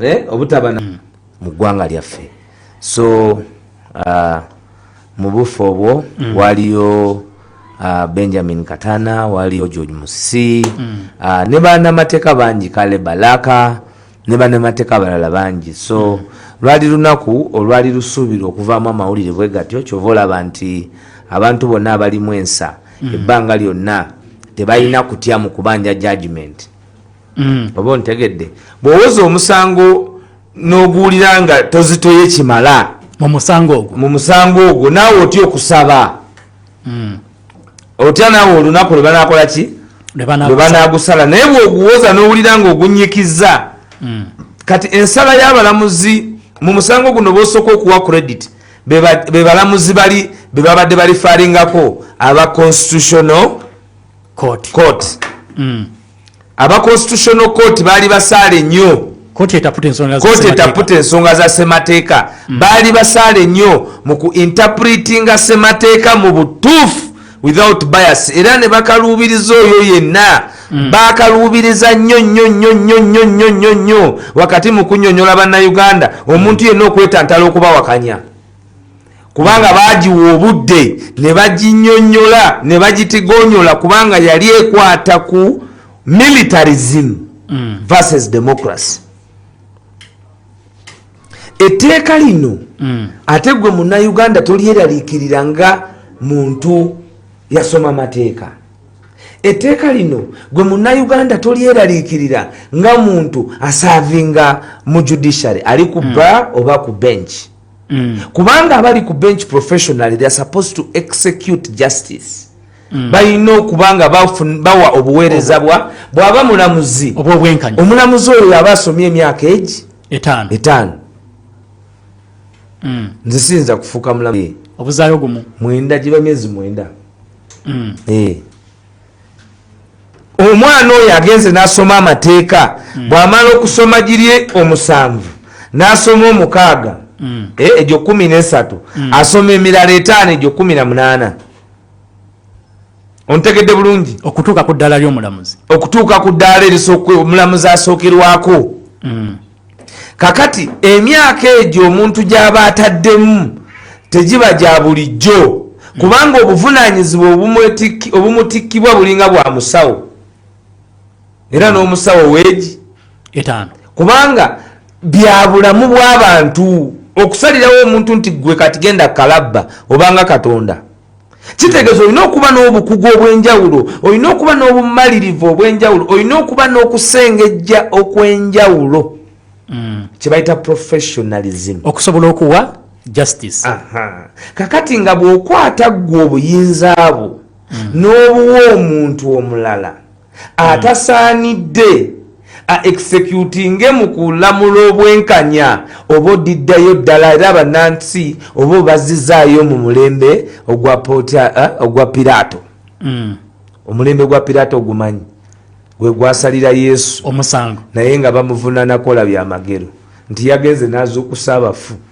eh, obutaba hmm. mu ggwanga lyaffe so uh, mu bufu obwo hmm. waliyo uh, benjamin katana waliyo george musisi hmm. uh, ne banamateeka bangi kale balaka ne banamateeka abalala bangi so lwali lunaku olwali lusuubirwa okuvaamu amawulire bwe gatyo kyova olaba nti abantu bonna abalimu ensa ebbanga lyonna tebalina kutya mu kubanja judgement mm. oba ontegedde bwowoza omusango n'oguwulira nga tozitoye kimala mu musango ogwo mu musango ogwo naawe otya okusaba mm. otya naawe olunaku lwe banakola ki lwe banagusala naye bwoguwoza n'owulira nga ogunyikizza mm. kati ensala y'abalamuzi mu musango guno bosooka okuwa credit bebalamuzi bali bebabadde balifaringako aba constitutional court, court. Mm. aba constitutional court baali basaale nnyo kooti etaputa ensonga za semateeka mm. baali basaale nnyo mu ku interpretinga semateeka mu butuufu without bias era ne bakaluubiriza oyo yenna mm. bakaluubiriza nnyo nnyo nnyo nnyo nnyo nnyo nnyo nnyo wakati mu kunyonyola bannayuganda omuntu yenna okwetantala okubawakanya kubanga baagiwa obudde ne baginyonyola ne bagitigonyola kubanga yali ekwata ku militarism mm. versus democracy etteeka lino mm. ate gwe munauganda tolyeraliikirira nga muntu yasoma mateeka etteeka lino gwe munauganda tolyeraliikirira nga muntu asaavinga mu judiciary ali ku mm. bar oba ku bench mm. kubanga abali ku bench professionally they are supposed to execute justice mm. balina okuba nga bawa obuweereza bwa bwaba mulamuzi obwobwenkanya omulamuzi oyo yaba asomye emyaka egi etaano etaano mm. nze siyinza kufuuka mulamu obuzayo gumu mwenda giba myezi mwenda mm. hey. Eh. omwana oyo agenze nasoma amateeka mm. bwamala okusoma girye omusanvu nasoma omukaaga mm. eh, egyo kumi nesatu mm. asoma emirala etaano egyo kumi na munaana ontegedde bulungi okutuuka ku ddaala lyomulamuzi okutuuka ku ddaala erisoomulamuzi asookerwako mm. kakati emyaka egyo omuntu gyaba ataddemu tegiba gya bulijjo kubanga obuvunanyizibwa obumutikkibwa bulinga bwa musawo era n'omusawo weegi etaano kubanga byabulamu bw'abantu okusalirawo omuntu nti gwe kati genda kalabba obanga katonda kitegeeza olina okuba n'obukugu obw'enjawulo olina okuba n'obumalirivu obw'enjawulo olina okuba n'okusengejja okw'enjawulo mm. kyebayita professionalism okusobola okuwa justice kakati nga bw'okwata ggwe obuyinza bwo mm. n'obuwa omuntu omulala atasaanidde a executinge mu kulamula obwenkanya oba odiddayo ddala era banansi oba obazizaayo mu mulembe ogwa eh, piraato mm. omulembe gwa piraato ogumanyi gwe gwasalira yesu omusango naye nga bamuvunanakola byamagero nti yagenze n'azuukusa abafu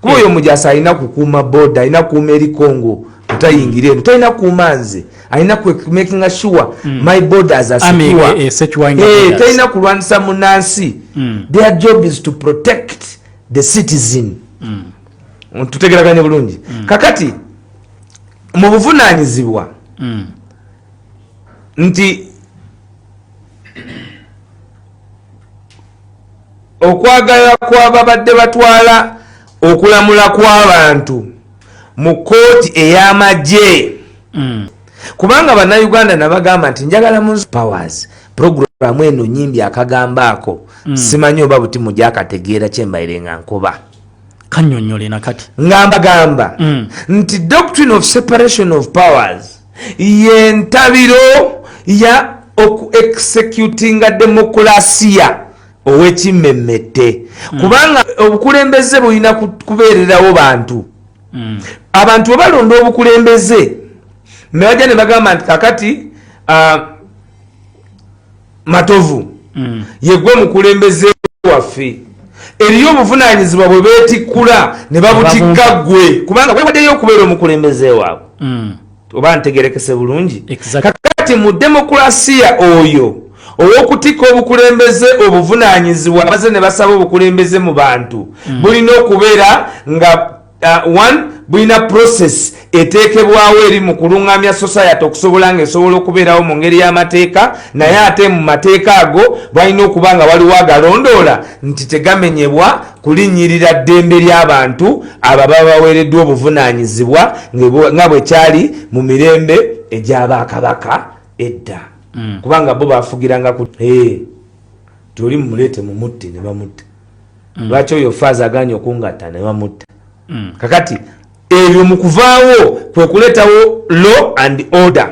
kuba oyo mujasa alina kukuuma boda alina kukuuma eri congo tutayingira eno talina kuuma nze alina kumakinga sure hmm. my borders asekiwa eh, eh, eh, talina kulwanisa munansi hmm. their job is to protect the citizen hmm. tutegeraganye bulungi kakati mu buvunanyizibwa nti okwagala kwababadde batwala okulamula kwabantu mu kooti eyamagye mm. kubanga banauganda nabagamba nti njagala mu powers programu eno nyimbi akagambo ako mm. simanyi oba buti mujakategeera kyembaire nga nkuba kanyonyole nakati ngambagamba mm. nti doctrine of separation of powers yentabiro ya oku executinga demokulasiya owekimmemmette mm. kubanga obukulembeze bulina kubeererawo bantu mm. abantu webalonda obukulembeze nebajja ne bagamba nti kakati uh, matovu mm. yegwe mukulembeze waffe eriyo obuvunanyizibwa bwe betikkula ne babutikka ggwe kubanga wewaddeyo okubeera omukulembeze waabwe mm. oba ntegerekese bulungi kakati mu demokulasiya oyo ow'okutikka obukulembeze obuvunanyizibwa amaze ne basaba obukulembeze mu bantu mm. bulina okubeera nga uh, one bulina process eteekebwawo eri mu kulungamya society okusobola nga esobola okubeerawo mu ngeri y'amateeka naye ate mu mateeka ago balina okuba nga waliwo agalondoola nti tegamenyebwa kulinnyirira ddembe ly'abantu abo baba baweereddwa obuvunaanyizibwa nga bwe kyali mu mirembe egy'abakabaka edda mm. kubanga bo bafugiranga ku eh, toli mumuleete mumutte ne bamutta mm. lwaki oyo faaza aganye okungatta newamutta mm. kakati ebyo mu kuvaawo kwe kuleetawo law and order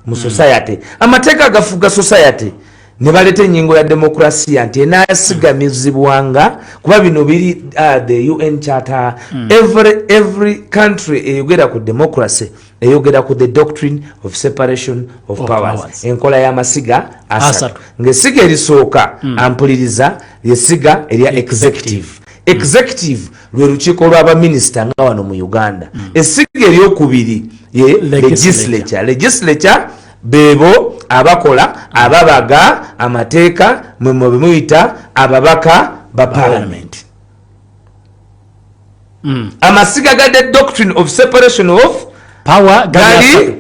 mu mm. society amateeka agafuga society ne baleeta enyingo ya demokrasiya nti enasigamizibwanga kuba bino biri uh, the un charter mm. every, every country eyogera ku democracy eyogera ku the doctrine of separation of, of powers, powers. enkola y'amasiga asatu ng'essiga erisooka mm. ampuliriza lyessiga erya executive executive mm. lwe lukiiko lwa baminisita nga wano mu uganda mm. essiga eryokubiri ye legislature legislature bebo abakola ababaga amateeka mwe mwebemuyita ababaka ba parliament, parliament. mm. amasiga gade doctrine of separation of power gali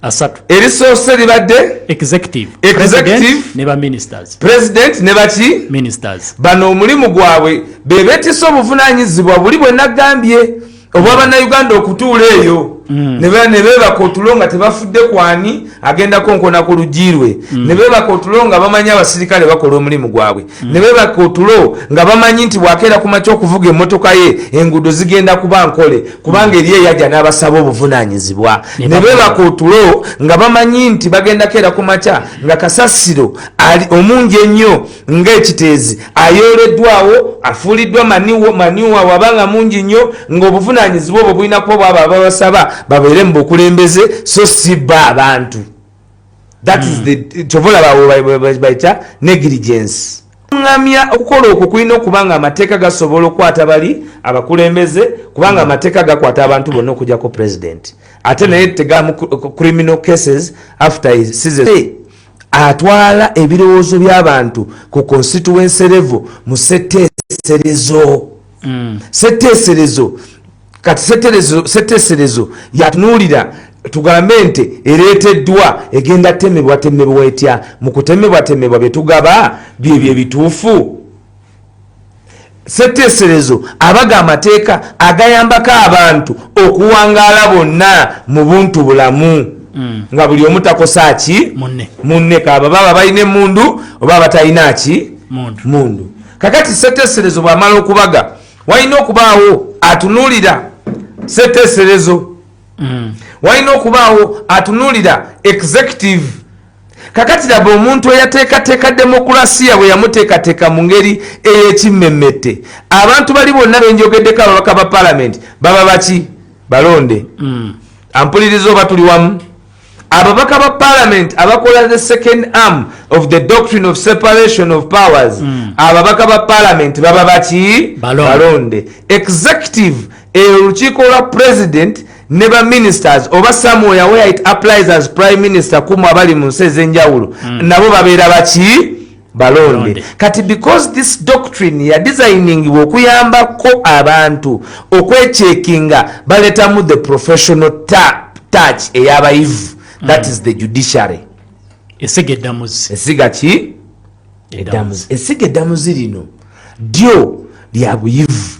asatu erisoose libadde executive executive ne ba ministers president ne baki ministers bano omulimu gwabwe bebetisa obuvunanyizibwa buli bwe nagambye obwa bannayuganda okutuula eyo mm. ne beebaka otulo nga tebafudde kwani agenda konkona ku lugirwe mm. ne beebaka otulo nga bamanyi abasirikale bakola omulimu gwabwe ne bebaka otulo nga bamanyi nti bwakeera ku makya okuvuga emmotoka ye enguudo zigenda kuba nkole kubanga eri eyajja n'abasaba obuvunaanyizibwa ne bebaka otulo nga bamanyi nti bagenda keera ku makya nga kasasiro ali omungi ennyo ng'ekiteezi ayooleddwawo afuuliddwa maniwa waba nga mungi nnyo ng'obuvunaanyizibwa obwo bulina kuba bwaba babasaba babeere mu bukulembeze so si bba abantu that is the kyova olaba bayita negligence ŋamya okukola okwo kulina okuba nga amateeka gasobola okukwata bali abakulembeze kubanga hmm. amateeka gakwata abantu bonna okujako president ate naye hmm. tegamu criminal cases after atwala ebirowoozo by'abantu ku constituency level mu seteeserezo hmm. seteeserezo kati seteserezo yatunuulira tugambe nti ereeteddwa egenda temebwa temebwa etya mu kutemebwa temebwa bye tugaba byebyo ebituufu seteeserezo abaga amateeka agayambako abantu okuwangaala bonna mu buntu bulamu mm. nga buli omu takosa ki munne kaaba baba balina emundu oba batalina ki mundu kakati seteeserezo bwamala okubaga walina okubaawo atunuulira seteeserezo mm. walina okubaawo atunuulira executive kakati laba omuntu eyateekateeka demokulasiya bwe yamuteekateeka mu ngeri ey'ekimmemmette abantu bali bonna benjogeddeko ababaka ba palamenti baba baki balonde mm. ampuliriza oba tuli wamu ababaka ba parliament abakola the second arm of the doctrine of separation of powers mm. ababaka ba parliament baba baki balonde executive olukiiko lwa president ne ba ministers oba somewhere where it applies as prime minister kumu abali mu nsi ezenjawulo mm. nabo babeera baki balonde kati because this doctrine ya designingiwa okuyambako abantu okwechekinga baletamu the professional touch eyabayivu that is the judiciary esiga eddamuzi esiga ki eddamuzi esiga eddamuzi lino dyo lya buyivu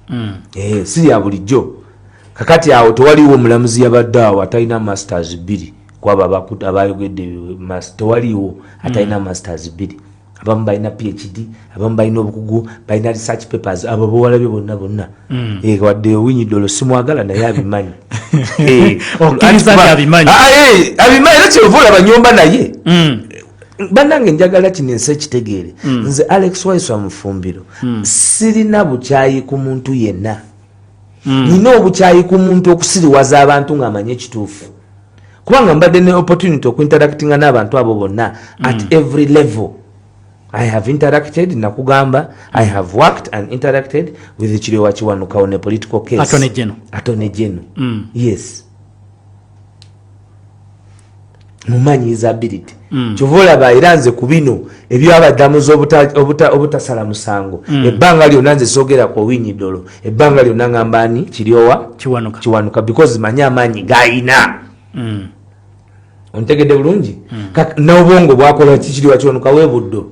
mm. eh, si lya bulijjo kakati awo tewaliwo omulamuzi yabadde awo atalina masters bbiri kwaba abakuta abayogedde mas tewaliwo atalina mm. masters bbiri abamu balina phd abamu balina obukugu balina research papers abo bawalabye bonna bonna mm. eh, wadde owinyi dolo simwagala naye abimanyi eh, abimanyi ah, eh, era kyova olaba nyumba naye mm. banange njagala kino ensi ekitegeere nze alex waiso amufumbiro sirina bukyayi ku muntu yenna mm. nina obukyayi ku muntu okusiriwaza abantu ng'amanyi ekituufu kubanga mbadde ne opportunity okuinteractinga n'abantu abo bonna mm. at every level i have interacted nakugamba i have worked and interacted with kirewa kiwanukawo ne political case atone geno mm. yes mumanyi is ability mm. kyova olaba era nze ku bino ebyabadamuzi obutasala musango mm. ebbanga lyona nze sogera ku owinyi dolo ebbanga lyona ngamba ani kiryowa kiwanuka. kiwanuka because manyi amaanyi gayina mm. ontegedde bulungi mm. n'obwongo bwakola kikiriwa kiwanuka webuddo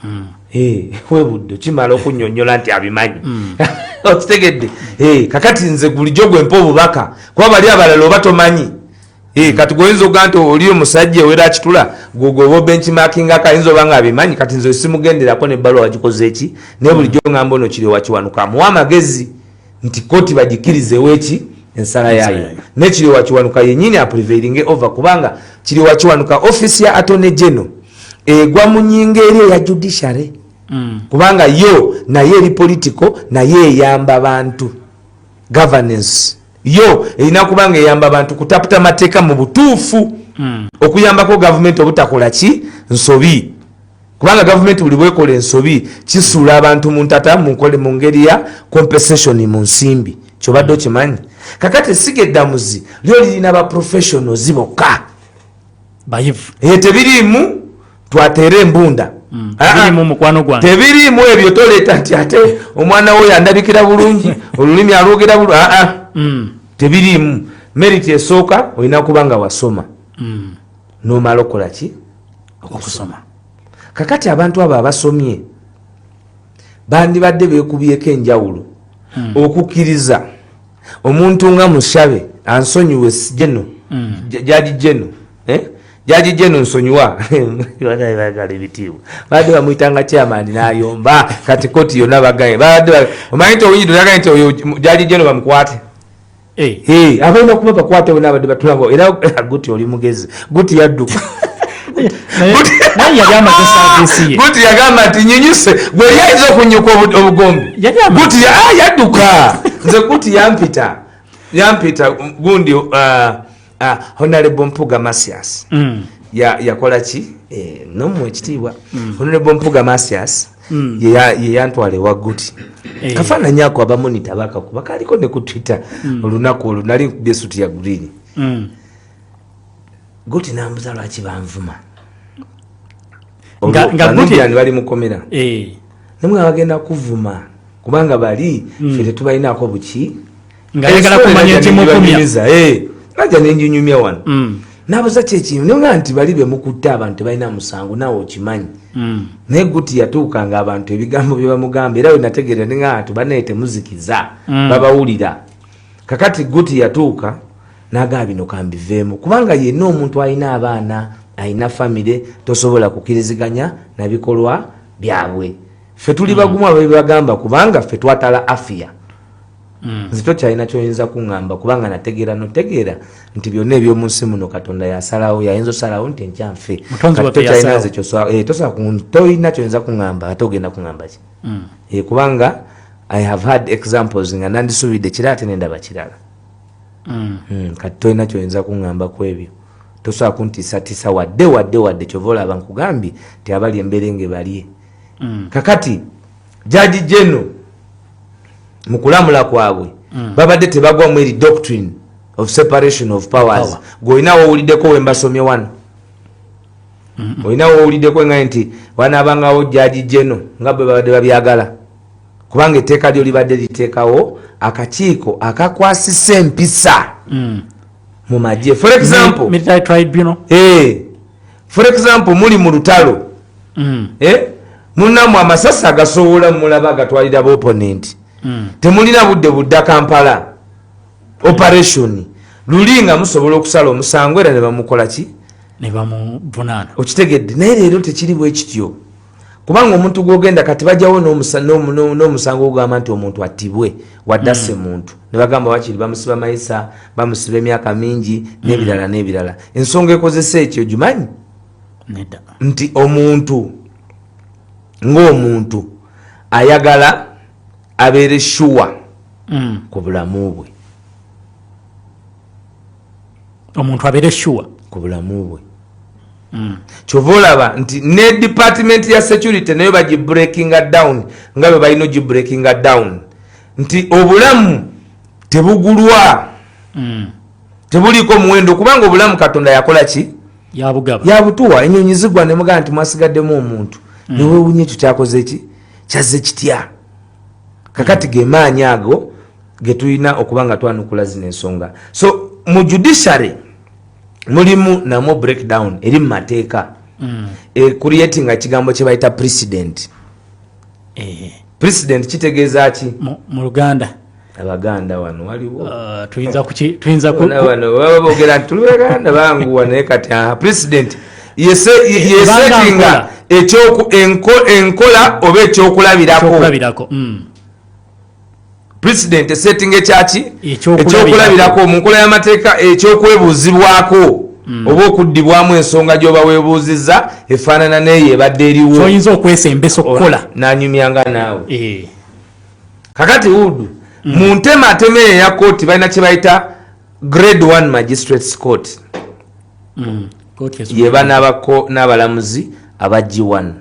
mm. eh, webudde kimala okunyonyola nti abimanyi mm. okitegedde eh, kakati nze gulijo gwempa obubaka kuba bali abalala oba tomanyi eh, kati gwoyinza okuga nti oli omusajja owera akitula gwogoba obenkimakingako ayinza oba nga abimanyi kati nze simugenderako nebbaluwa wagikoze eki naye bulijjo ngamba ono kiri wakiwanuka amuwa amagezi nti koti bagikirizewo eki ensala yayo nekiriowa kiwanuka yenyini apreveiringe over kubanga kiriowa kiwanuka office ya atone geno egwa mu nyinga eri eya judiciary mm. kubanga yo naye eri political naye eyamba bantu governance yo erina kubanga eyamba bantu kutaputa mateeka mu butuufu mm. okuyambako gavumenti obutakola ki nsobi kubanga gavumenti buli bwekola ensobi kisuula abantu mu ntata munkole mu ngeri ya compensation mu nsimbi kyobadde okimanyi kakati esiga eddamuzi lyo lirina ba professionals bokka bayivu e tebiriimu twateera embunda mm. ah, ah. tebiriimu ebyo toleeta nti ate omwana wo yandabikira bulungi olulimi alwogera bulu aa ah, mm. tebiriimu meriti esooka olina kuba nga wasoma mm. nomala okola ki okusoma kakati abantu abo abasomye bandibadde bekubyeko enjawulo hmm. okukkiriza omuntu nga mushabe ansonyiwe jeno hmm. jaji jeno eh? jaji jeno nsonyiwa bagala ebitiibwa babadde bamuyitanga kyamani nayomba kati koti yona bagaye omanyi nti owunyidde oyaga nti oyo jaji jeno bamukwate Eh. Eh, abalina kuba bakwata bona abadde batulaba era eh, guti oli mugezi guti yadduka guti yagamba nti nyinyuse gweri ayinza okunyuka obugombe guti ah, yadduka nze guti yampita yampita gundi uh, Ah, honorable mpuga masias mm. yakola ya ki eh, nomu ekitiibwa mm. honorable mpuga masias mm. yeyantwala ewa guti eh. kafaananyi ako abamonita bakakuba kaliko ne ku twitter mm. olunaku olwo nali nkubye esuti ya green mm. guti nambuza lwaki banvuma nganubiani bali mukomera eh. namwe abagenda kuvuma kubanga bali mm. fe tetubalinaako buki nga ayagala kumanya ekimukumya najja nenjinyumya wano mm. nabuza kyekintu naye nga nti bali bemukutte abantu tebalina musango naawe okimanyi mm. naye guti yatuuka nga abantu ebigambo byebamugamba era wenategeera ninga bantu banaye temuzikiza mm. babawulira kakati guti yatuuka nagamba bino kambiveemu kubanga yenna omuntu alina abaana alina famire tosobola kukiriziganya nabikolwa byabwe ffe tuli bagumu ababibagamba kubanga ffe twatala afiya Mm. nze tokyalina kyoyinza kuŋamba kubanga nategeera notegeera nti byonna ebyomunsi muno katonda yasalawo yayinza osalawo nti enkyanfe eh, tolina kyoyinza kuŋamba ate ogenda kuŋamba ki mm. eh, kubanga i have had examples nga nandisuubidde kira ate nendaba kirala mm. hmm, kati tolina kyoyinza kuŋamba ku ebyo tosobola kuntiisatiisa wadde wadde wadde kyova olaba nkugambye ti abali emberenge balye kakati jaji geno mu kulamula kwabwe mm. babadde tebagwamu eri doctrine of separation of powers gweolina wowuliddeko wembasomye wano olina wowuliddeko nga nti wanabangawo jaji geno nga bwe babadde babyagala kubanga etteeka lyo libadde liteekawo akakiiko akakwasisa empisa mm. mu magye for example military tribunal hey. Eh. for example muli mu lutalo mm. eh? munamwe amasasi agasobola mulaba agatwalira boponenti mm. temulina budde budda kampala operation luli nga musobola okusala omusango era nebamukolaki nebamuvunaana okitegedde naye leero tekiri bwekityo kubanga omuntu gwogenda kati bajawo n'omusango ogamba nti omuntu attibwe wadase hmm. muntu nebagamba wakiri bamusiba mayisa bamusiba emyaka mingi hmm. n'ebirala n'ebirala ensonga ekozesa ekyo gimanyi nti omuntu ng'omuntu ayagala abeere shuwa hmm. ku bulamu bwe omuntu abeere shuwa ku bulamu bwe Mm. kyova olaba nti ne department ya security nayo bagibreakinga down nga bwe balina ogibreakinga down nti obulamu tebugulwa mm. tebuliiko muwendo kubanga obulamu katonda yakola ki yabutuwa enyonyi zigwa nemugaa nti mwasigaddemu omuntu mm. newewunya ekyo kyakoze ki kyazze kitya kakati gemaanyi ago getulina okuba nga twanukula zino ensonga so mu judiciary mulimu namwo breakdown eri mu mateeka mm. e, creatinga kigambo kye bayita president eh. president kitegeeza ki mu luganda abaganda wano waliwo uh, tuyinza kuki tuyinza ku wano baba bogera nti tuluganda bangu wano kati ah, president yese yesetinga ekyoku enkola oba ekyokulabirako mm. president esetting ekyaki ekyokulabirako mu nkola y'amateeka ekyokwebuuzibwako mm. oba okuddibwamu ensonga gyoba webuuzizza efaanana neeyo ebadde eriwoyinza okwesembesa okukola nanyumyanga naawe eh. kakati wudu mm. mu ntema atema eyo eya kooti balina kyebayita grade one magistrates court mm. yebanabako n'abalamuzi abagi one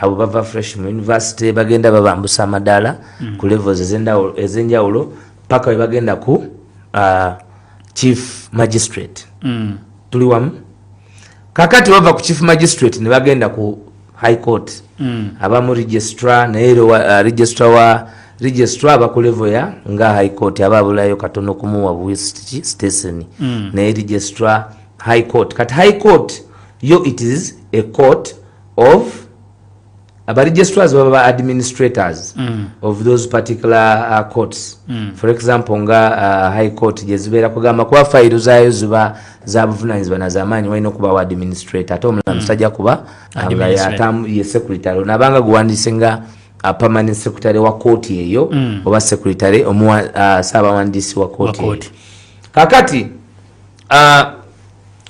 abo bava fresh mu university bagenda babambusa amadaala mm. ku levels ezenjawulo paka webagenda ku uh, chief magistrate mm. tuli wamu kakati bava ku chief magistrate nebagenda ku high court mm. abamu registra naye uh, registra wa registra abakulevo ya nga high court aba abulayo katono kumuwa buwisiti station mm. naye registra high court kati high court yo it is a court of aba registrars baba ba administrators mm. of those particular uh, courts mm. for example nga uh, high court gyezibeera kugamba kuba fayiro zaayo ziba za buvunanyizibwa nazamaanyi walina okubawo administrator ate omulamuzi mm. tajja kuba ye secretary nabanga guwandiise nga uh, permanent secretary wa kooti eyo mm. oba secretary omuwa uh, saabawandiisi wa kooti kakati ah,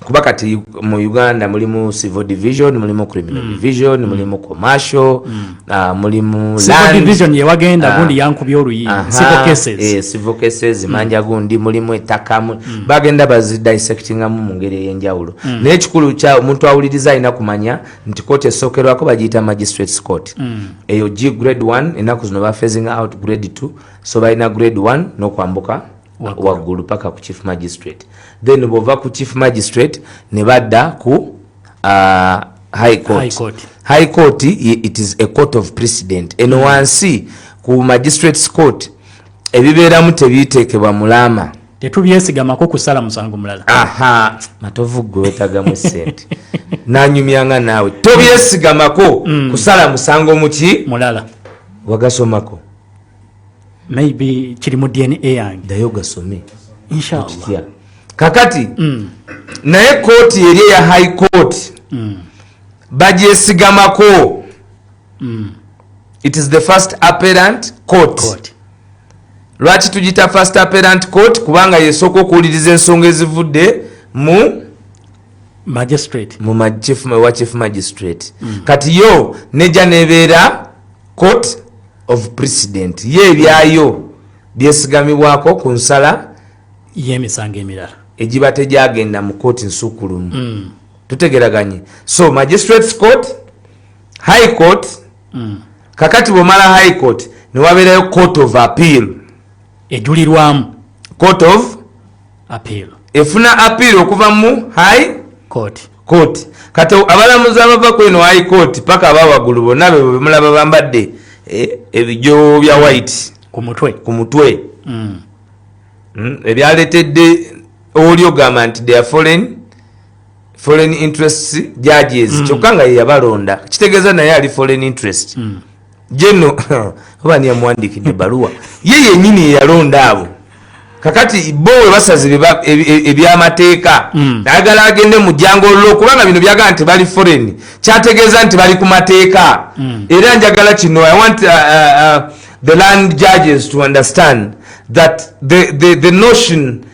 kuba kati mu uganda mulimu civil division mulimu criminal mm. division mm. mulimu commercial mm. uh, mulimu division yewagenda uh, ah. gundi yankubya oluyi civil cases eh, civil cases mm. manja gundi mulimu ettaka mm. bagenda bazi dissectingamu mu ngeri ey'enjawulo mm. naye ekikulu kya omuntu awuliriza alina kumanya nti kooti esookerwako bagiyita magistrates court mm. eyo g grade 1 ennaku zino bafezinga out grade 2 so balina grade 1 n'okwambuka waggulu paka ku chief magistrate then bwova ku chief magistrate ne badda ku uh, high court, high court. High court it is a court of precedent eno mm. wansi ku magistrates court ebibeeramu tebiteekebwa mulaama tetubyesigamako kusala musango mulala aha matovu gwe wetagamu sente nanyumyanga naawe tobyesigamako mm. kusala musango muki mulala wagasomako maybe kiri mu dna yange dayo gasome inshallah kakati mm. naye kooti eri eya high court mm. bagyesigamako mm. it is the first apparent court, court. lwaki tugita first apparent court kubanga yesooka okuwuliriza ensonga ezivudde mu magistrate mu wa chief magistrate mm. kati yo neja nebeera court of president ye ebyayo byesigamibwako ku nsala yemisango emirala egiba tegyagenda mu kooti nsukulumu mm. tutegeraganye so magistrates court high court mm. kakati bwomala high court newabeerayo court of appeal ejulirwamu court of efuna appeal okuva mu high court court kati abalamuzi abava ku eno high court paka abawagulu bonna bebo bemulaba bambadde eh, ebijo bya white ku mutwe ku mutwe mm. mm, ebyaletedde oli ogamba nti their foreign foreign interest judges mm. kyokka nga yeyabalonda kitegeeza naye ali foreign interest mm. jeno oba ni yamuwandikidde baluwa ye yenyini yeyalonda abo kakati bo we basazi ebyamateeka e, e, mm. ayagala agende mu jango lo kubanga bino byagala nti bali foreign kyategeeza nti bali ku mateeka mm. era njagala kino i want uh, uh, uh, the land judges to understand that the, the, the notion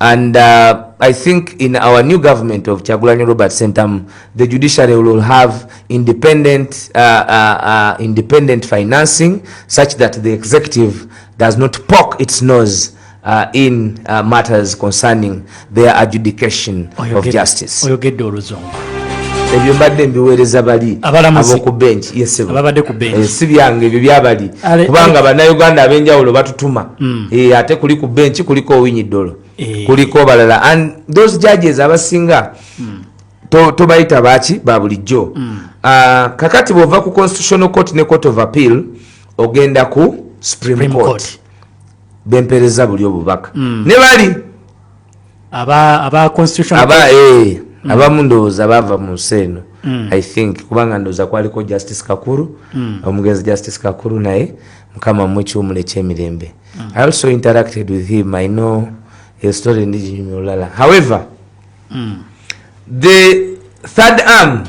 and uh, i think in our new government of chagulanyi robert centam the judiciary will have independent, uh, uh, uh, independent financing such that the executive does not poke its nose uh, in uh, matters concerning their adjudication of justice ebyo mbadde mbiweereza bali aboku benki yesibabadde ku benki eh, si byange ebyo byabali kubanga bannayuganda ab'enjawulo batutuma mm. e, ate kuli ku benki kuliko owinyi dolo e. kuliko balala and those judges abasinga mm. tobayita to baki babulijjo mm. uh, kakati bwova ku constitutional court ne court of appeal ogenda ku supreme, supreme court, court. bempereza buli obubaka mm. ne bali aba aba constitution aba eh mm. abamu ndowooza baava mu nsi eno mm. i think kubanga ndowooza kwaliko justice kakuru mm. omugenzi justice kakuru naye mukama mu ekiwumulo ekyemirembe mm. i also interacted with him i know a story ndiginyumya olulala however mm. the third arm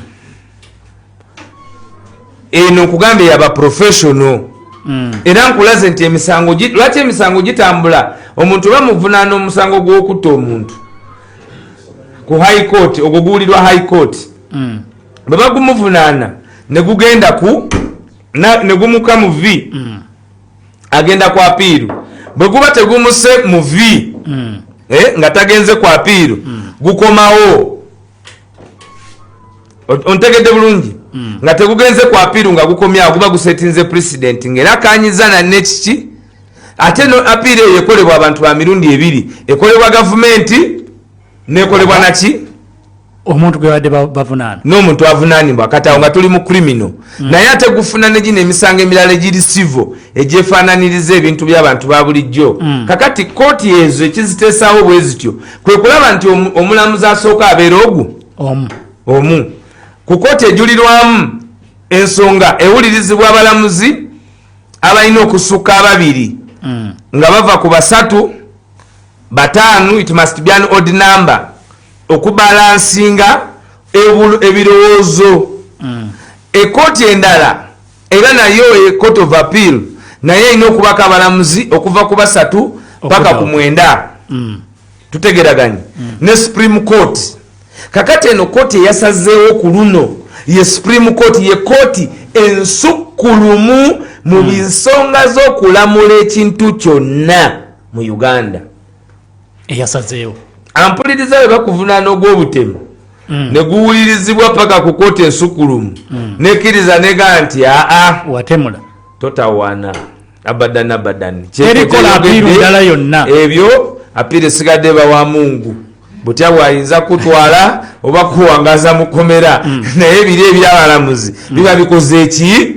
eno nkugambye yaba professional mm. era nkulaze nti emisango lwaki emisango gitambula omuntu oba muvunaana omusango gwokutta omuntu ku high court ogwo guwulirwa high court mm. bwe bagumuvunaana ne gugenda ku ne gumuka mu vi mm. agenda ku apiiru bwe guba tegumuse mu vi eh, nga tagenze ku apiiru gukomawo ontegedde bulungi hmm. nga tegugenze ku apiiru nga gukomyawo guba gusetinze pulezidenti ngaera akanyiza nanne kiki ate no apiiru eyo ekolebwa abantu ba mirundi ebiri ekolebwa gavumenti nekolebwa naki omuntu gwebadde bavunaana n'omuntu avunaanibwa kati awo nga tuli mu krimino hmm. naye ate gufuna ne gino emisango emirala egiri sivo egyefaananiriza ebintu by'abantu ba bulijjo hmm. kakati kooti ezo ekiziteesaawo bwe zityo kwe kulaba nti omulamuzi asooka abeera ogu omu omu ku kooti ejulirwamu ensonga ewulirizibwa abalamuzi abalina okusukka ababiri mm. nga bava ku basatu bataanu it must be an odd number okubalansinga ebirowoozo mm. ekooti endala Era nayo e court of appeal naye erina okubako abalamuzi okuva ku basatu paka ku mwenda mm. tutegeraganye mm. ne supreme court kakati eno kooti eyasazeewo ku luno ye supreme court ye kooti ensukkulumu mu mm. nsonga z'okulamula ekintu kyonna mu uganda eyasazeewo ampuliriza bwe bakuvunaana ogw'obutemu mm. ne guwulirizibwa paka ku kooti ensukulumu mm. nekkiriza nega nti aa watemula totawaana abadan abadan kyerikola apiiru ndala yonna ebyo apiira esigadde bawa mungu butya bwayinza kutwala oba kuwangaza mukomera mm. naye biri ebyabalamuzi mm. biba bikoze ki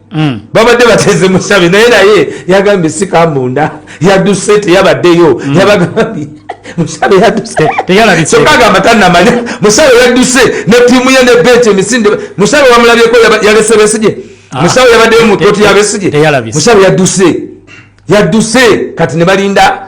Mm. babadde bateze musabe naye naye yagambye sikambunda yaduse teyabaddeyo mm. yabagambye musabe yaduseagamba tanamanya musabe yaduse ne tiimu ye ne beti emisinde musabe wamulabyeko yalese besije ah. musabe yabaddeyo mu koti yabesije musabe yaduse yaduse kati ne balinda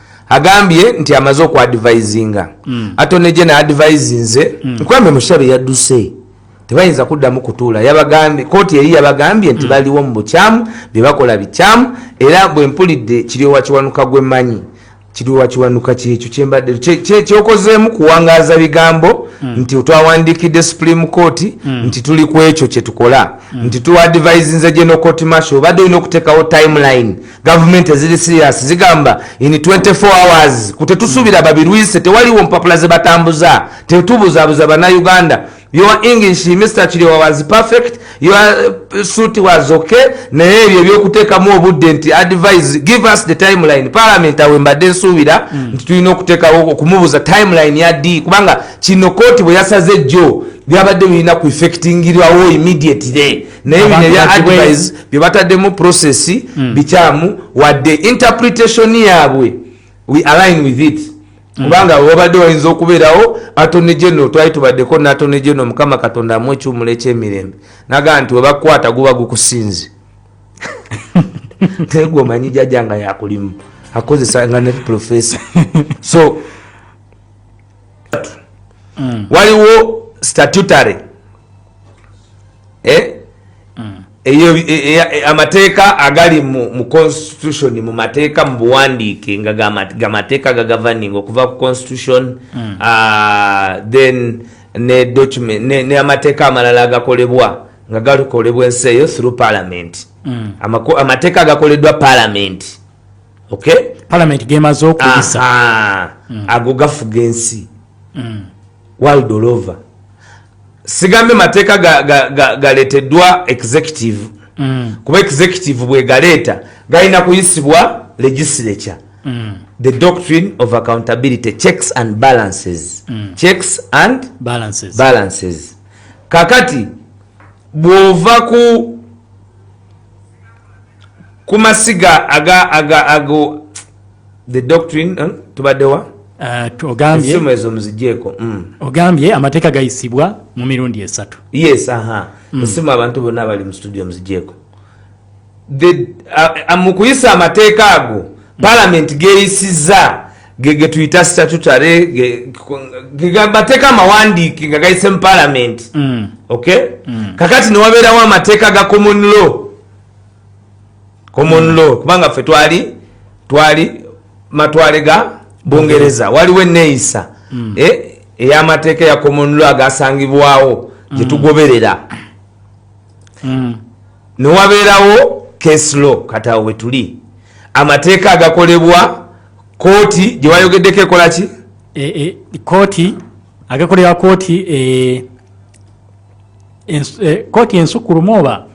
agambye nti amaze oku advisinga mm. atone gye na advise nze mm. nkwambe mushabe yadduse tebayinza kuddamu kutuula yabagambye kooti eri yabagambye nti mm. baliwo mu bukyamu bye bakola bikyamu era bwe mpulidde kiryowa kiwanuka gwe manyi kiryowa kiwanuka kyekyo kyembadde kyokozeemu kuwangaaza bigambo mm. nti otwawandiikidde supreme court mm. nti tuli ku ekyo kye tukola mm. nti tuadvisinze gye nokotimasho obadde olina okuteekawo timeline gavumenti eziri sirias zigamba in 24 hours kutetusubira babirwise tewaliwo mpapula zebatambuza tetubuzabuza banauganda your english mr kiriowa was perfect your uh, suit was okay naye ebyo ebyokuteekamu obudde nti advise give us the timeline parliament awe mbadde nsuubira mm. nti tulina okuteekawo okumubuza timeline ya d kubanga kino kooti bwe yasaze jjo byabadde birina ku effectingirwawo immediately naye bino ebya advise bye bataddemu process mm. bikyamu wadde interpretation yaabwe we align with it mm. kubanga mm. wabadde wayinza okubeerawo atony general twali tubaddeko natony general mukama katonda amu ekiwumulo ekyemirembe nagaa nti webakukwata guba gukusinze tegwe omanyi jaja nga yakulimu akozesa nga ne professor so mm. waliwo statutory eh? mm. e, e, e, amateeka agali mu, mu constitution mu mateeka mu buwandiike nga gamateeka gagavaning okuva ku constitution mm. uh, then ne document ne, ne amateeka amalala agakolebwa nga gakolebwa ensi eyo through parliament mm. amateeka agakoleddwa parliament palamenti gemaze okuyisa mm. ago gafuga ensi mm. world all over sigambye mateeka galeteddwa executive mm. kuba executive bwegaleeta galina kuyisibwa legislature the doctrine of accountability checks and balances checks and balances, balances. kakati bwova ku kumasiga aga aga ago the doctrine eh, tubadewa uh, ogambye esimu ezo muzijeko mm. ogambye amateka gayisibwa mu mirundi esatu yes aha mm. esimu abantu bonna bali mu studio muzijeko the uh, uh, mukuyisa amateka ago mm. parliament geyisiza getuyita statutary geamateeka amawandiiki nga gayise mu palamenti mm. ok mm. kakati newabeerawo amateeka ga common law common mm. law kubanga ffe twali twali matwale ga bungereza waliwo eneeyisa eh, ey'amateeka ya common law agasangibwawo gyetugoberera newabeerawo case law katawo wetuli amateeka agakolebwa kooti gyewayogeddeko ekola ki e, e, kooti agekolera kooti e, kooti ensukulumu oba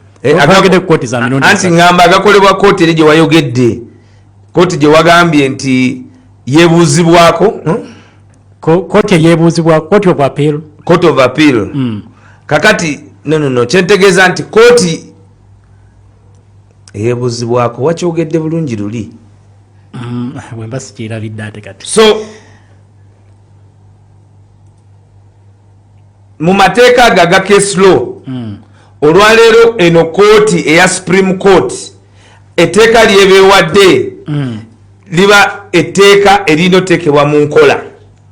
agagede kooti za mirundi anti ngamba agakolebwa kooti eri gyewayogedde kooti gyewagambye nti yebuuzibwako hmm? kooti eyebuuzibwa kooti of appeal court of appeal mm. kakati nonono kyentegeeza nti kooti eyebuuzibwako wakyogedde bulungi luli mm, bwemba sikyerabidde ate kati so mu mateeka ago aga case law mm. olwaleero eno kooti eya supreme court etteeka lyebeewadde mm. liba etteeka erina otekebwa mu nkola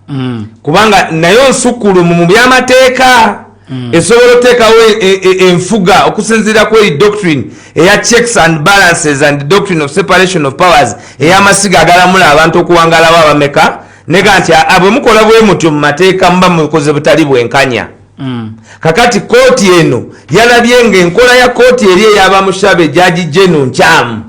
mm. kubanga nayo nsukulumu mu byamateeka mm. esobola oteekawo e, e, e, enfuga okusinziira ku eri doctrine eya checks and balances and doctrine of separation of powers ey'amasiga agalamula abantu okuwangalawo abameka nega nti bwe mukola bwe mutyo mu mateeka muba mukoze butali bwenkanya mm. kakati kooti eno yalabye nga enkola ya kooti eri eyabamushabe jaji jenu nkyamu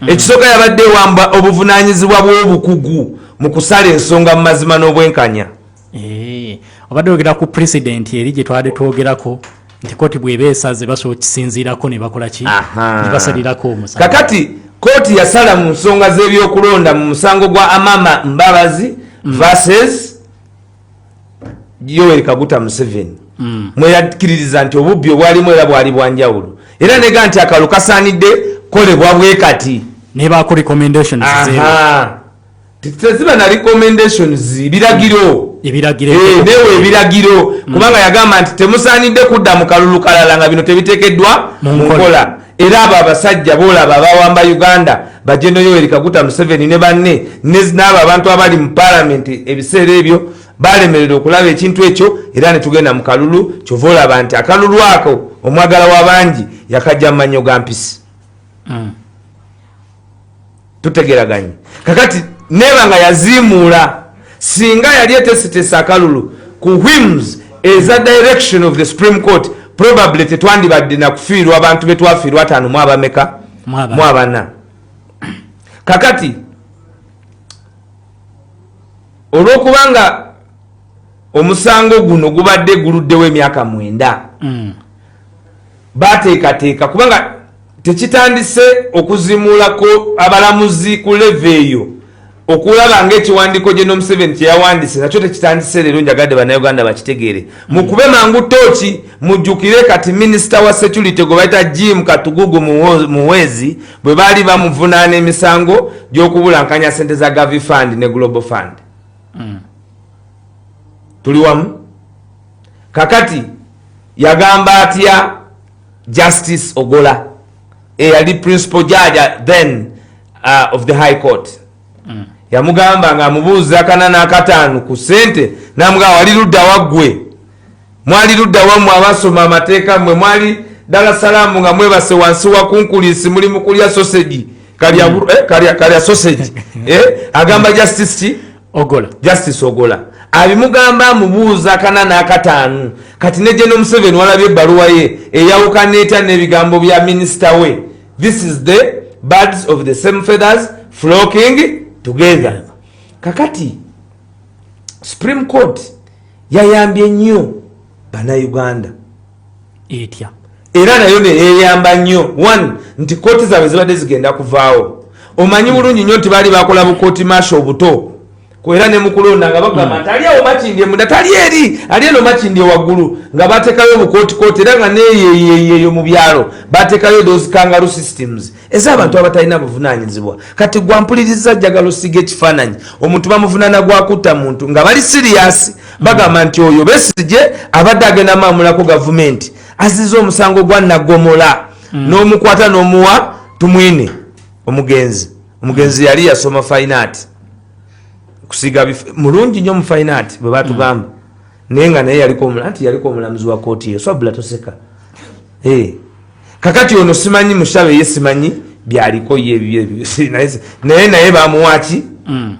Mm. ekisooka yabadde ewamba obuvunanyizibwa bw'obukugu mu kusala ensonga mu mazima n'obwenkanya eh, obadde ogera ku pulezidenti eri gye twade twogerako nti kooti bweba esaze basobola okisinziirako ne bakola ki ne basalirako omusa kakati kooti yasala mu nsonga z'ebyokulonda mu musango gwa amama mbabazi mm. verses yoweri kaguta museveni mm. mweyakkiririza nti obubbi obwalimu era bwali bwanjawulo era nega nti akalo kasaanidde kolebwa bwe kati teziba na recommendations biragiro ebiragiro eh, newe ebiragiro mm. kubanga yagamba nti temusaanidde kudda mu kalulu kalala nga bino tebitekeddwa mu nkola era abo abasajja bolaba abawamba uganda bajeno yoweri kaguta museveni ne banne n'abo abantu abali mu palamenti ebiseera ebyo balemerera okulaba ekintu ekyo era netugenda mu kalulu kyova olaba nti akalulu ako omwagala wa bangi yakajja mu manyo ga mpisi mm. tutegeraganye kakati neba nga yaziimuula singa yali etesitesa akalulu ku whims eza direction of the supreme court probably tetwandibadde nakufiirwa abantu betwafiirwa ataano mu abameka mu abana kakati olwokubanga omusango guno gubadde guluddewo emyaka mwenda mm. bateekateeka kubanga tekitandise okuzimuulako abalamuzi ku leve eyo okulaba ngaekiwandiiko gye nomuseveni kyeyawandise nakyo tekitandise leero njagadde banauganda bakitegeere mukube mm. mangu tooki mujjukire kati minisita wa security gwe bayita jim katugugu muwezi bwe baali bamuvunaana emisango gyokubulankanya sente za gavi fund ne global fund mm. tuli wamu kakati yagamba atya justice ogola eyali principal judge then uh, of the high court mm. yamugamba nga amubuuza kana nakataano ku sente namugamba wali ludda waggwe mwali ludda wammwe abasoma amateeka mmwe mwali dala salaamu nga mwebase wansi wakunkulisi muli mukulya sosegi kalya, mm. eh, kalya, kalya sosegi eh, agamba justice ki ogola justice ogola abimugamba amubuuza kana n'akataanu kati ne gye nomuseveni walabye ebbaluwa ye eyawukana etya n'ebigambo bya minisita we this is the birds of the same feathers flocking together kakati supreme court yayambye nnyo banauganda etya era nayo neyeyamba nnyo one nti kooti zaabwe zibadde zigenda kuvaawo omanyi bulungi nnyo nti baali bakola bukooti maasha obuto era ne mukulonda nga bagamba hmm. nti ali awo makindi emunda tali eri ali eno makindi ewaggulu nga bateekayo obukootikooti era nga neyeyeyeyo mu byalo bateekayo those kangaru systems eza abantu abatalina buvunanyizibwa kati gwampuliriza jjagala osiga ekifaananyi omuntu bamuvunana gwakutta muntu nga bali siriyasi bagamba nti oyo besigye abadde agenda maamulako gavumenti aziza omusango gwa nagomola mm. n'omukwata n'omuwa tumwine omugenzi omugenzi yali yasoma fainaati kusiga mulungi nnyo mu fainaati bwe batugamba mm. naye nga naye yaliko nti yaliko omulamuzi wa kooti eyo swabula toseka eh. kakati ono simanyi mushabe ye simanyi byaliko ye naye naye bamuwaki mm.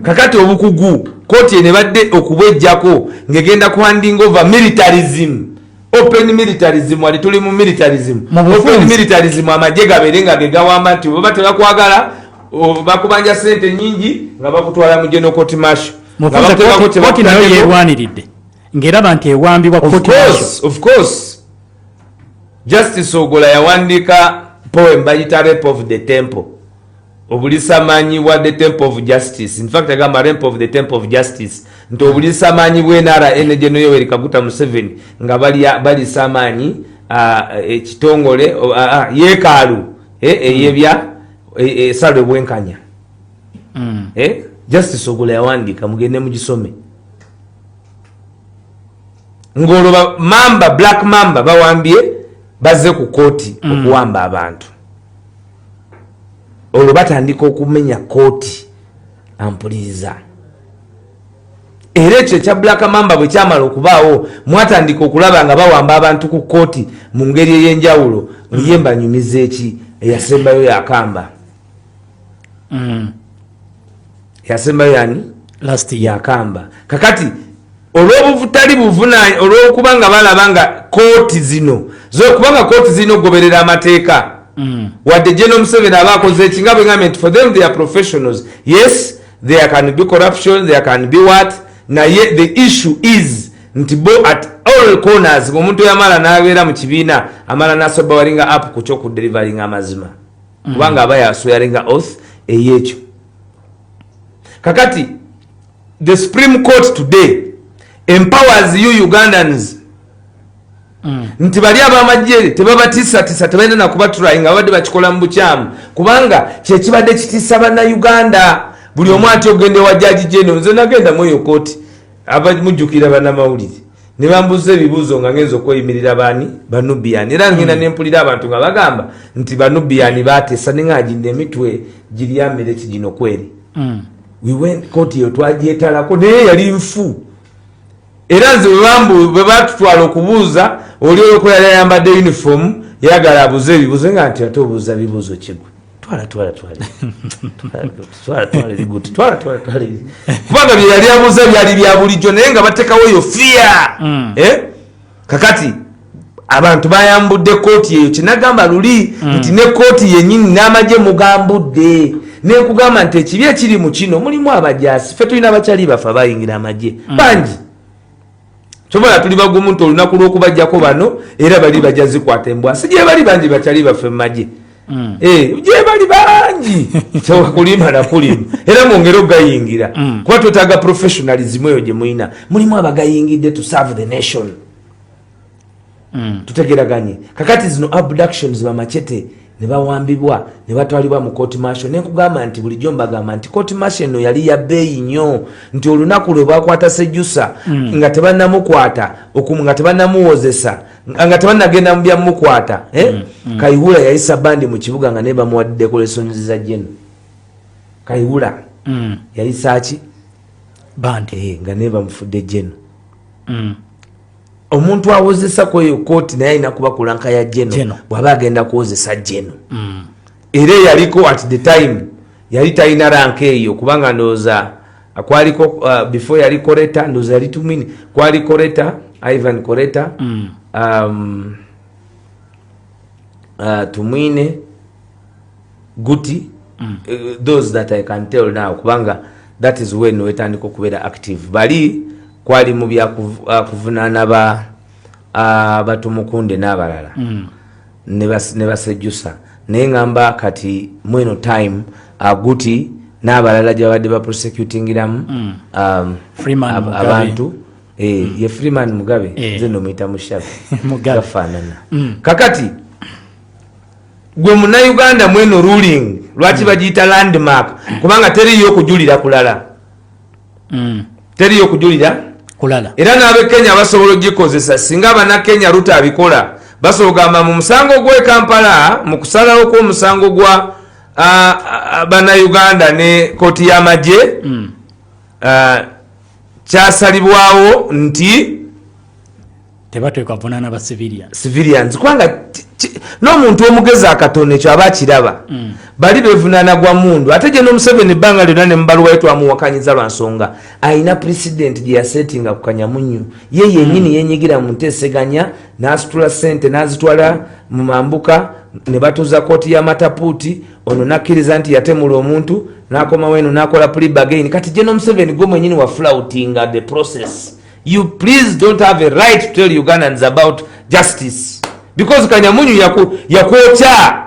kakati obukugu koti ene badde okubwejjako ngegenda ku handing over militarism open militarism wali tuli mu militarism open militarism amagye gabeere nga gegawamba nti oba tebakwagala bakubanja sente nyingi nga bakutwala mu genokoti masho koti nayo yerwaniridde ngaeraba nti ewambibwa koti masho justice ogola yawandiika poem bayita rape of the temple obulisamanyi bwa the temple of justice infact agamba rape of the temple of justice nti obulisamanyi bwenara enegeno yoweri kaguta museveni nga balisa amaanyi ekitongole yekaalu e, eyebya e, e, esala obwenkanya mm. justice ogola yawandiika mugende mugisome ng'olwo bamamba black mamba bawambye bazze ku kooti mm. okuwamba abantu olwo batandika okumenya kooti ampuliriza era ekyo ekya black mamba bwe kyamala okubaawo mwatandika okulaba nga bawamba abantu ku kooti mu ngeri ey'enjawulo mm. ye mbanyumiza eki eyasembayo yakamba mm. yasembayo yani last yakamba kakati olwobutali buvuna olwokuba nga balaba nga kooti zino zokuba nga kooti zirina okugoberera amateeka mm. wadde geno museveni aba akoze eki nga bwegambye nti for them they are professionals yes there can be corruption there can be what naye the issue is nti bo at all corners omuntu yamala nabeera mu kibiina amala nasoba walinga app ku kyokudeliveringa amazima kubanga aba yaswearinga oth eyekyo kakati the supreme court today empowers you ugandans mm. nti bali abamajje tebabatisatisa tebalina nakubatrai nga babadde bakikola mu bukyamu kubanga kyekibadde kitisa bana uganda buli omu ati ogenda ewa jaji jeno nze nagenda mweyo koti abamujjukira banamawulire ne bambuza ebibuuzo nga ngenza okweyimirira baani banubiyani era ngenda hmm. nempulira abantu nga bagamba nti banubiyani bateesa ne nga ginda emitwe giryamere ki gino kweri hmm. koti eyo twagyetalako naye yali nfu era nze bwe batutwala okubuuza oli olwokuba yali ayambadde uniform yagala abuuza ebibuuzo nga nti ate obuuza bibuuzo kigwe twala twala twala twala twala liguti twala twala twala kubanga bye yali abuuza byali bya bulijjo naye nga batekawo eyo fiya mm. eh? kakati abantu bayambudde kooti eyo kyenagamba luli mm. nti ne kooti yenyini n'amagye mugambudde nenkugamba nti ekibi ekiri mu kino mulimu abajasi fe tulina abakyali bafe abayingira amagye mm. bangi kyobola tuli bagumu nti olunaku lwokubajjako bano era bali bajja zikwata embwa si gyebali bangi bakyali baffe mumagye mm. eh, gyebali bangi kyewakulima nakulima era mwongere okugayingira mm. kuba twetaaga professionalism eyo gyemulina mulimu abagayingidde to serve the nation mm. tutegeraganye kakati zino abductions bamachete nebawambibwa nebatwalibwa mu court martial nenkugamba nti bulijjo mbagamba nti court martial eno yali ya beeyi nnyo nti olunaku lwe bakwata sejusa mm. nga tebanamukwata nga tebanamuwozesa nga tebanagenda mu byamukwata eh? mm. mm. kayihura yayisa bandi mu kibuga nga naye bamuwadde decorations za jeno kayihura mm. yayisaki bandi eh, nga naye bamufudde jeno mm. omuntu awozesa kweyo kooti naye alina kuba kulanka ya jeno bwaba agenda kuwozesa jeno mm. era eyaliko at the time yali talina ranka eyo kubanga ndowooza uh, kwaliko uh, before yali koreta ndowooza yali tumini kwali koreta ivan koreta mm. um, uh, tumwine guti mm. uh, those that i can tell now kubanga that is when wetandika okubeera active bali kwali mu byakuvunaana ah, ba ah, batumukunde n'abalala mm. ne basejjusa naye ngamba kati mweno time aguti uh, n'abalala gyabadde baprosecutingiramu mm. um, abantu eh, mm. ye freeman mugabe eh. nze nomuyita mushabe gafaanana mm. kakati gwe munauganda mweno ruling lwaki bagiyita landmark kubanga teriyo okujulira kulala mm. teriyo okujulira kulala era n'abekenya basobola ogikozesa singa abanakenya ruta abikola basobola ogamba mu musango gw'e kampala mu kusalawo kw'omusango gwa banauganda ne kooti y'amagye mm. kyasalibwawo nti tebateekwa vunaana ba civilian civilians kubanga n'omuntu omugezi akatono ekyo aba akiraba mm. bali bevunaana gwa mundu ate gye nomuseveni ebbanga lyonna ne mubaluwayo twamuwakanyiza lwa nsonga alina president gye yasetinga ku kanyamunyu ye yenyini mm. yenyigira mu nteeseganya n'asitula sente n'azitwala mu mambuka ne batuuza kooti ya matapuuti ono nakkiriza nti yatemula omuntu n'akomawo eno n'akola plibagain kati gye nomuseveni gwe mwenyini wafulautinga the process you please don't have a right to tell ugandans about justice because kanyamunyu yakwokya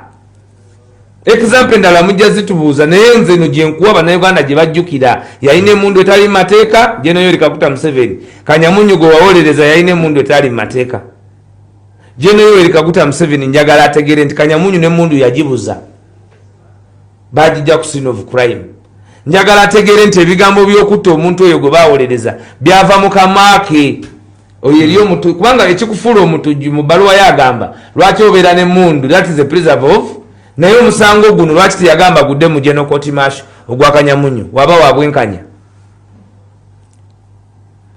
example endala mujja zitubuuza naye nze no gyenkuwa banauganda gye bajjukira yalina emundu etali mateeka jenoyori kakuta museveni kanyamunyu gwe wawolereza yalina emundu etali mateeka jenoyori kakuta museveni njagala ategere nti kanyamunyu nemundu yagibuza bagijja ku sin of crime njagala ategeere nti ebigambo byokutta omuntu oyo gwe bawolereza byava mu kamaake oyo eri omutu kubanga ekikufuula omutujju mu baluwa yo agamba lwaki obeera ne mundu that is a preserve of naye omusango guno lwaki teyagamba gudde mu genokotimasho ogwakanyamunyo waba wabwenkanya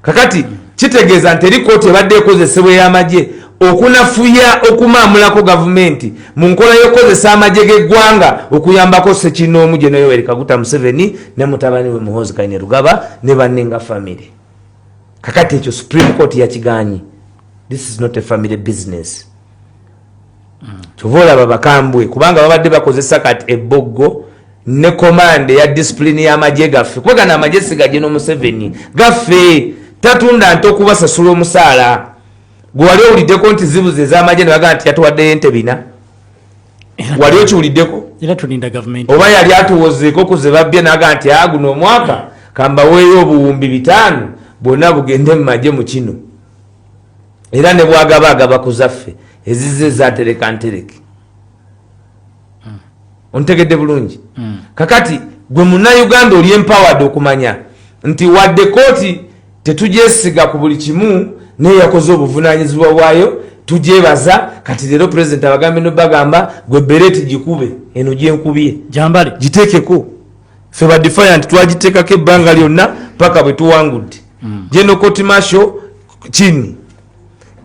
kakati kitegeeza nti eri kooti ebadde ekozesebwa ey'amagye okunafuya okumaamulako gavumenti mu nkola y'okukozesa amagye g'eggwanga okuyambako sekinoomu gye noyoweri kaguta museveni ne mutabani we muhoozi kaine rugaba ne banne nga famiry kakati ekyo supreme court yakigaanyi this is not a famiry business kyova olaba bakambwe kubanga babadde bakozesa kati ebboggo ne komande ya disipulini y'amagye gaffe kuba gano amagye sigagye n'omuseveni gaffe tatunda nti okubasasula omusaala gwe wali owuliddeko nti zibuzi ez'amagye ne bagaa nti yatuwaddeyo ente bina wali okiwuliddeko oba yali atuwozeeko okuze babbye nagaa nti a ah, guno omwaka kambaweeyo obuwumbi bitaano bwonna bugende mu magye mu kino era ne bwagaba agaba ku zaffe ezizze zatereka ntereke hmm. ontegedde bulungi hmm. kakati gwe munauganda oli empowered okumanya nti wadde kooti tetugyesiga ku buli kimu naye yakoze obuvunanyizibwa bwayo tugyebaza kati leero president abagambe nobagamba gwe bereti gikube eno gyenkubye giteekeko fe badefiant twagitekako ebbanga lyonna paka bwetuwangudde mm. general court marshal chini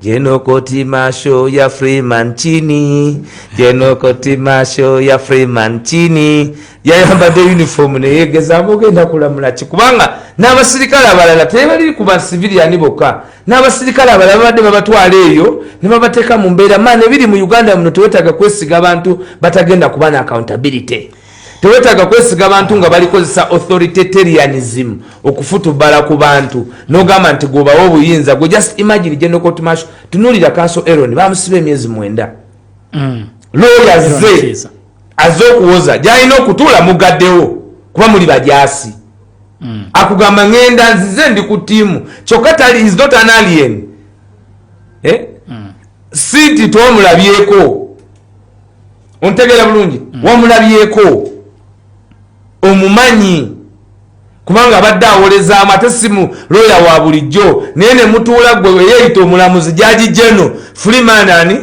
general court marshal ya freeman chini general court marshal ya freeman chini yayambadde uniform neyegezamu ogenda kulamula ki kubanga n'abasirikale abalala tebaliri ku basiviliyani bokka n'abasirikale abalala babadde babatwala eyo ne babateeka mu mbeera maana ebiri mu uganda muno tewetaaga kwesiga bantu batagenda kuba na accountability tewetaaga kwesiga bantu nga balikozesa authoritarianism okufutubala ku bantu nogamba nti gwobawa obuyinza gwe just imagine genocotmasho tunulira kanso eron bamusiba emyezi mwenda mm. looya ze aze okuwoza gyalina okutuula mugaddewo kuba muli bajasi mm. akugamba ngenda nzize ndi ku tiimu kyokka tali is not an alien eh? mm. si nti twamulabyeko ontegeera bulungi mm. wamulabyeko omumanyi kubanga abadde awolezaamu ate simu looya wa bulijjo naye ne mutuula gwe eyeyita omulamuzi jaji geno freeman ani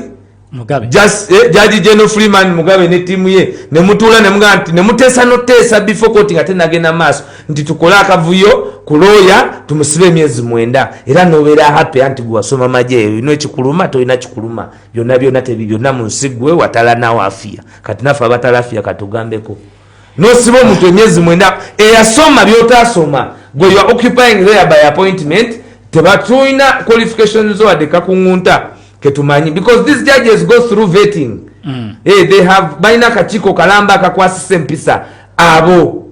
eh, jaji geno freeman mugabe ne tiimu ye ne mutuula nemugaa nti ne muteesa noteesa before koti nga tenagenda maaso nti tukole akavuyo ku looya tumusibe emyezi mwenda era nobeera happy anti gwe wasoma majeeyo ino ekikuluma tolina kikuluma byonna byonna tebi byonna mu nsi gwe watalanawo afiya kati naffe abatalafiya katugambeko nosiba omuntu emyezi mwenda eyasoma byotasoma gwe ua occupying there by appointment tebatulina qualification zo wadde kakuŋunta ketumanyi because these judges go through vetting mm. hey, eh, they have balina akakiiko kalamba akakwasisa empisa abo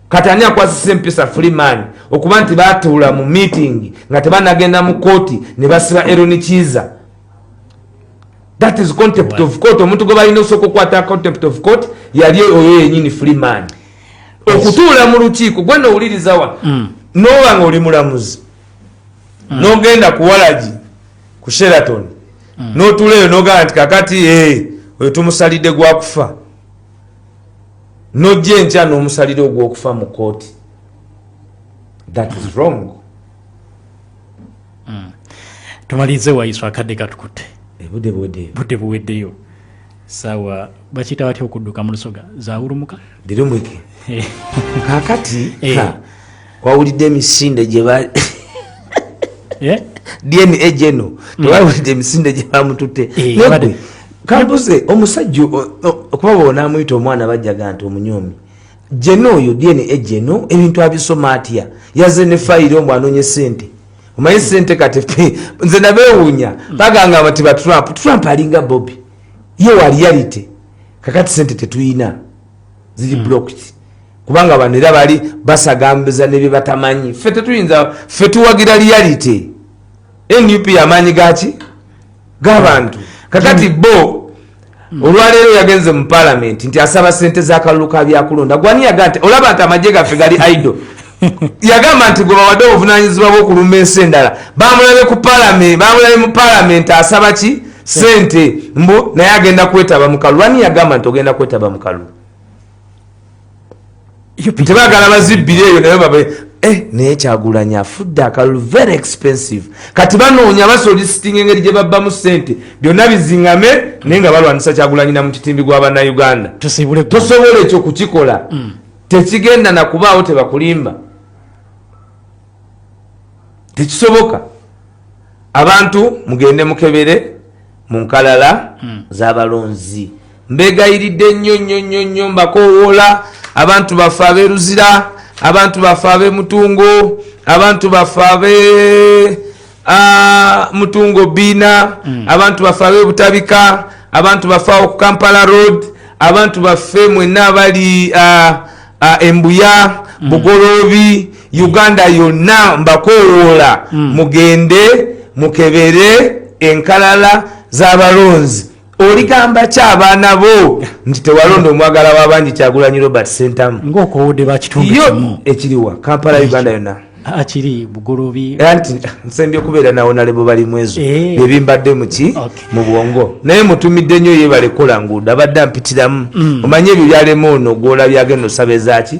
kati ani akwasisa empisa freeman okuba nti batuula mu meeting nga tebanagenda mu kooti ne basiba eronikiiza that is contempt of court omuntu gwe balina osooka okukwata contempt of court yali oyo yenyini free man okutuula mu lukiiko gwe nowulirizawa mm. noba nga oli mulamuzi mm. nogenda ku walagi ku sheraton mm. notuula eyo nogamba nti kakati eh, oyo tumusalidde gwakufa nojja enkya nomusalira ogwokufa mu kooti that is wrong mm. tumalirize wayiso akadde katukute ebude buweddeyo budde buweddeyo sawa bakiyita batya okudduka mu lusoga zawulumuka dirumwike eh. kakati eh. wawulidde emisinde gye eh? dna geno mm. tewawulidde emisinde gye bamututte kambuze omusajja okuba bonaamuyita omwana bajjaga nti omunyomi jena oyo dna ejeno ebintu abisoma atya yaze ne fayiro omwe anonye sente omanyi sente kati nze nabewunya baganga abati ba trump trump alinga bobi ye waliyalite kakati sente tetuyina ziri hmm. blocked kubanga bano era bali basagambiza nebyebatamanyi fe tetuyinza fe tuwagira liyalite nup yamaanyi gaki gabantu kakati bo olwaleero yagenze mu palamenti nti asaba sente zakalulu ka byakulonda gwani yaga nti olaba nti amagye gaffe gali ido yagamba nti gwe bawadde obuvunanyizibwa bwokulumba ensi endala bamulabe ku palamenti bamulabe mu palamenti asaba ki sente mbu naye agenda kwetaba mukalulu ani yagamba nti ogenda kwetaba mukalulu tebagala bazibbira eyo naye babe eh, naye kyagulanya afudde akalulu very expensive kati banoonya basolisitinga engeri gye babbamu ssente byonna bizingame naye nga balwanisa kyagulanyina mu kitimbi gwa bannayuganda tosobola ekyo kukikola mm. tekigenda nakubaawo tebakulimba tekisoboka abantu mugende mukebere mu nkalala hmm. zabalonzi mbegayiridde nnyo nnyo nnyo nnyo mbakowoola abantu baffe aberuzira abantu baffe abemutungo abantu baffe abe Ah, mutungo biina mm. abantu bafe abebutabika abantu bafe awo ku kampala road abantu bafe mwena abali ah, ah, embuya mm. bugoloobi uganda yonna mbakowoola mm. mugende mukebere enkalala z'abalonzi oligamba ki abaana bo nti tewalonda omwagala wabangi kyagulanyi robert sentamu ngaokowodde bakitunduyo ekiriwa kampala uganda yona akiri bugolobi anti nsembye okubeera nawonalebo bali mwezo eh. byebimbadde muki mu bwongo naye mutumidde nnyo yebale kukola nguudo abadde ampitiramu mm. omanye ebyo byalema ono gwolabye agenda osaba ezaki